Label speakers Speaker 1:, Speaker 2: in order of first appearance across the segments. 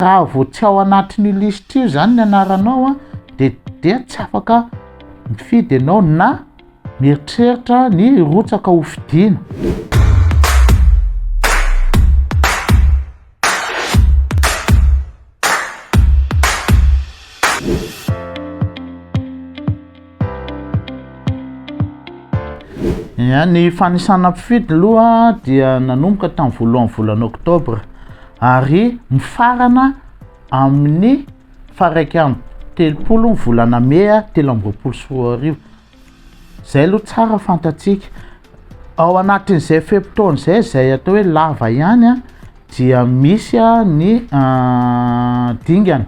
Speaker 1: Raha vao tsy ao anatin'io lisitra io izany ny anaranao dia dia tsy afaka mifidy ianao na mieritreritra ny hirotsaka ho fidiana. Ny fanisana mpifidy aloha dia nanomboka tamin'ny voalohan'ny volana oktobra ary mifarana amin'ny faraika amby telopolo ny volana mey telo amby roapolo sy roa arivo, izay aloha tsara fantatsika, ao anatin'izay fe-potoana izay izay atao hoe lava ihany dia misy ny dingana.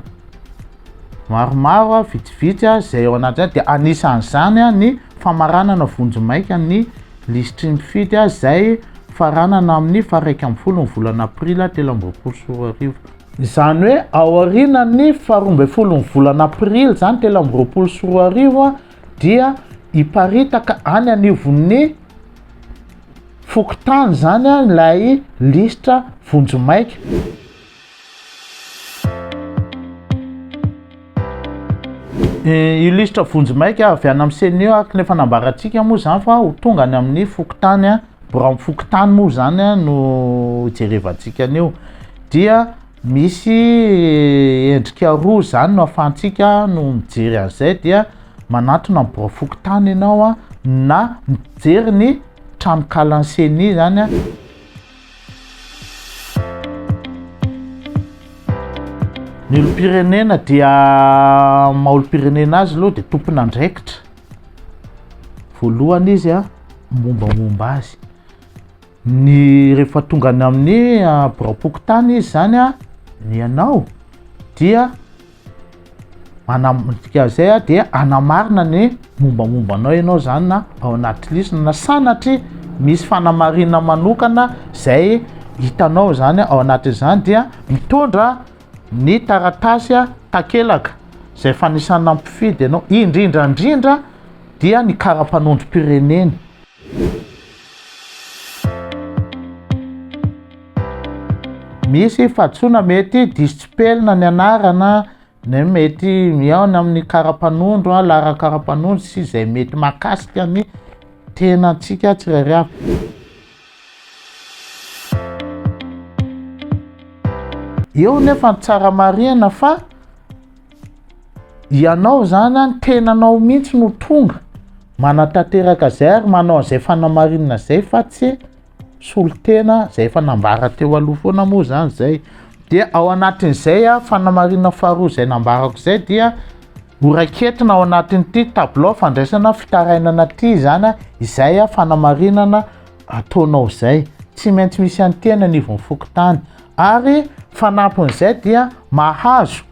Speaker 1: Maromaro, vitsivitsy izay ao anatin'izany dia anisan'izany ny famaranana vonjimaika ny lisitry ny mpifidy izay faranana amin'ny faha-iraika ambin'ny folo ny volana aprila telo amby roapolo sy roa arivo. Izany hoe aorianan'ny faharoa ambin'ny folo ny volana aprily izany telo amby roapolo sy roa arivo dia hiparitaka any anivon'ny fokontany izany ilay lisitra vonjimaika. Illustre vonjimaika avy any amin'ny CNIO araka ny efa nambarantsika moa izany fa ho tonga any amin'ny fokontany, birao amin'ny fokontany moa izany no hijerevantsika an'io. Dia misy endrika roa izany no ahafahantsika no mijery an'izay dia manantona amin'ny birao fokontany ianao na mijery ny tranonkalan'ny CENI izany. Ny olom-pirenena dia maha-olom-pirenena azy aloha dia tompon'andraikitra. Voalohany izy a, mombamomba azy. Ny rehefa tonga any amin'ny ah, biraom-pokontany izy zany a, ny anao dia Manamdikazay aho dia anamarina ny mombamomba anao ianao zany na ao anaty lisiny na sanatria misy fanamarina manokana zay hitanao zany ao anatin'izany dia mitondra ny taratasy a takelaka zay fanisana mpifidy ianao indrindrandrindra dia ny karapanondrom-pirenena Misy fahadisoana mety diso tsipelina ny anarana ny mety mihaona amin'ny karapanondro, laharan'ny karapanondro sy izay mety mahakasika ny tenantsika tsirairay avy. Eo nefa ny tsara marihina fa Ianao zany an tenanao mihitsy no tonga manatanteraka zay ary manao an'izay fanamarinana zay fa tsy solotena zay efa nambara teo aloha foana moa zany zay dia ao anatin'izay a fanamarinana faharoa zay nambarako zay dia horaiketina ao anatin'ity tabilao fandraisana fitarainana ty zany a izay a fanamarinana ataonao zay tsy maintsy misy an'ny tena ny ivon'ny fokontany ary fanampin'izay dia mahazo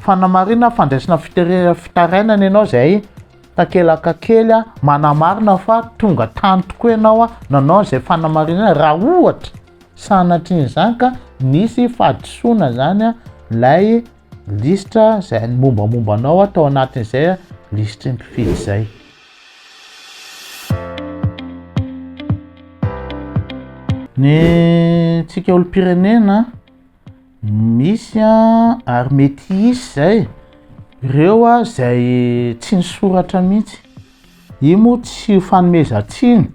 Speaker 1: Fanamarina fandraisana fitare- fitarainana ianao izay takelaka kely a, manamarina fa tonga tany tokoa ianao a, nanao izay fanamarinana raha ohatra sanatrian'izany ka nisy fahadisoana zany a, lay lisitra zay ny mombamomba anao a tao anatin'izay a lisitry ny mpifidy zay. Ny tsika olom-pirenena misy a ary mety hisy zay reo a zay tsy nisoratra mihitsy i moa tsy ho fanomezan-tsiny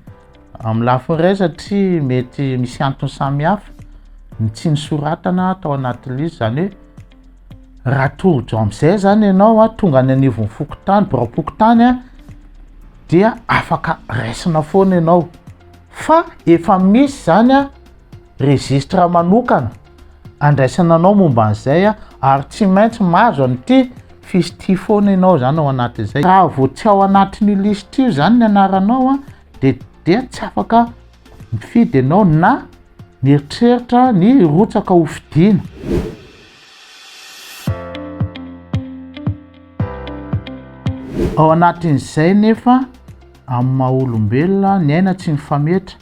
Speaker 1: amin'ny lafiny ray satria mety misy antony samy hafa ny tsy nisoratana tao anaty lisy zany hoe raha tojo am'izay zany ianao a tonga any anivon'ny fokontany biraom-pokontany a dia afaka raisina foana ianao fa efa misy zany a registre manokana andraisana anao momba an'izay ary tsy maintsy mahazo an'ity fiche ity foana ianao izany ao anatin'izay. Raha vao tsy ao anatin'io liste io izany ny anaranao dia dia tsy afaka mifidy ianao na mieritreritra ny hirotsaka ho fidiana. Ao anatin'izay nefa amin'ny maha olombelona ny aina tsy mifametra.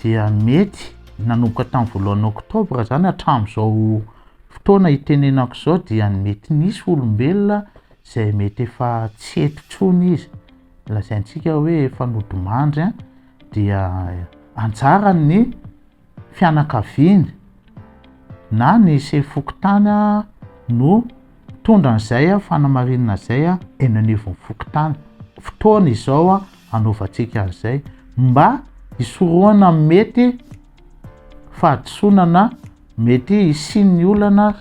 Speaker 1: dia mety nanomboka tamin'ny voalohan'ny oktobra izany hatramin'izao fotoana hitenenako izao dia mety nisy olombelona izay mety efa tsy eto intsony izy lazaintsika hoe efa nodimandry an dia anjaran'ny fianakaviany na ny sefokotany no mpitondra an'izay fanamarinana izay eny anivon'ny fokontany. Fotoana izao hanaovantsika an'izay mba hisorohana amin'ny mety fahadisoana na mety hisian'ny olana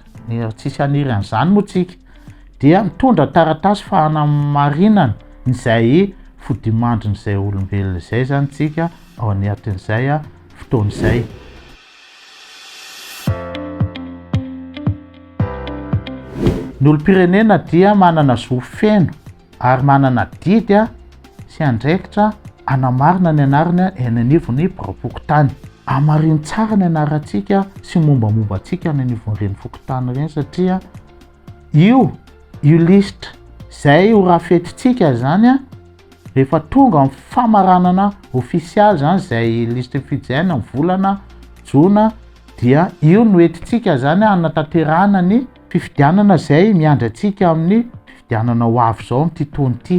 Speaker 1: tsisy haniry an'izany moa tsika dia mitondra taratasy fanamarinana izay fodimandrin'izay olombelona izay zany tsika ao anatin'izay fotoana izay. Ny olom-pirenena dia manana zo feno ary manana adidy sy andraikitra hanamarina ny anarany eny anivon'ny biraom-pokontany. Hamarino tsara ny anarantsika sy mombamomba antsika any anivon'ireny fokontany ireny satria io io lisitra izay ho rafetintsika izany Rehefa tonga ny famaranana ofisialy zany izay liste fidjin ny volana jona dia io no entintsika zany hanatanterahana ny fifidianana izay miandry antsika amin'ny fifidianana ho avy izao amin'ity taona ity.